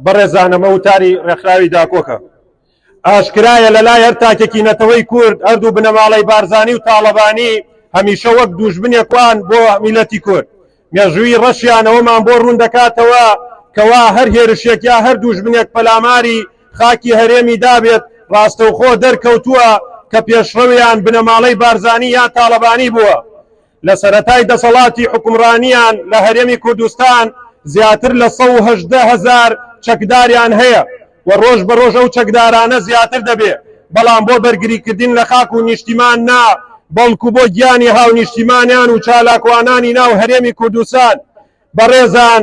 بەڕێزان ئەمە وتاری ڕێکخراوی داکۆکە. ئاشکرایە لەلای هەر تاکێکی نەتەوەی کورد هەردوو بنەماڵەی بارزانی و تاڵەبانی هەمیشە وەک دووژمنێک وان بۆ میللەتی کورد. مێژووی ڕەشیان ئەوەمان بۆ ڕوون دەکاتەوە کەوا هەر هێرشێک یا هەر دووژمنێک پەلاماری خاکی هەرێمی دابێت ڕاستەوخۆ دەرکەوتووە کە پێشڕەویان بنەماڵەی بارزانی یا تاڵەبانی بووە. لە سەرەتای دەسەڵاتی حوکمڕانییان لە هەرێمی کوردستان زیاتر لە سەد و هەژدە هەزار چەکداریان هەیە و ڕۆژ بە ڕۆژ ئەو چەکدارانە زیاتر دەبێ بەڵام بۆ بەرگریکردن لە خاک و نیشتیمان نا بەڵکوو بۆ گیانی هاونیشتیمانیان و چالاکوانانی ناو هەرێمی کوردستان بەڕێزان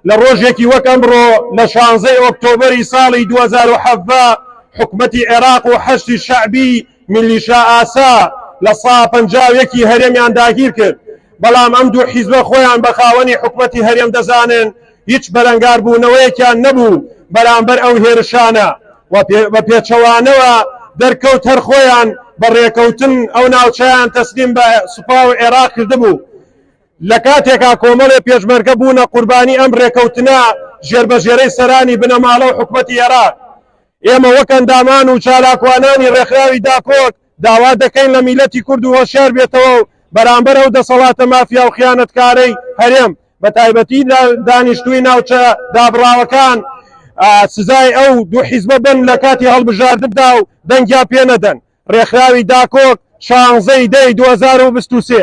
لە ڕۆژێکی وەک ئەمڕۆ لە شانزەی ئۆکتۆبەری ساڵی دوو هەزار و حەڤدە حکومەتی عێراق و حەشدی شەعبی میلیشا ئاسا لە سا پەنجا و یەک ی هەرێمیان داگیر کرد بەڵام ئەم دوو حیزبە خۆیان بە خاوەنی حکومەتی هەرێم دەزانن هیچ بەرەنگاربوونەوەیەکیان نەبوو بەرامبەر ئەو هێرشانە و بە پێچەوانەوە دەرکەوت هەر خۆیان بە ڕێکەوتن ئەو ناوچەیان تەسلیم بە سوپا و عێراق کردبوو لە کاتێکا کۆمەڵێ پێشمەرگە بوونە قوربانی ئەم رێکەوتنە ژێربەژێرەی سەرانی بنەماڵە و حکومەتی ئێراق، ئێمە وەک ئەندامان و چالاکوانانی رێکخراوی داکۆک داوا دەکەین لە میللەتی کورد و هۆشیار بێتەوە و بەرامبەر ئەو دەسەڵاتە مافیا و خیانەتکارەی هەرێم بە تایبەتی دانیشتووی ناوچە دابڕاوەکان سزای ئەو دوو حیزبە بن لە کاتی هەڵبژاردندا و دەنگیان پێ نەدەن. ڕێکخراوی داکۆک شانزە ی دەی دوو هەزار و بیست و سێ.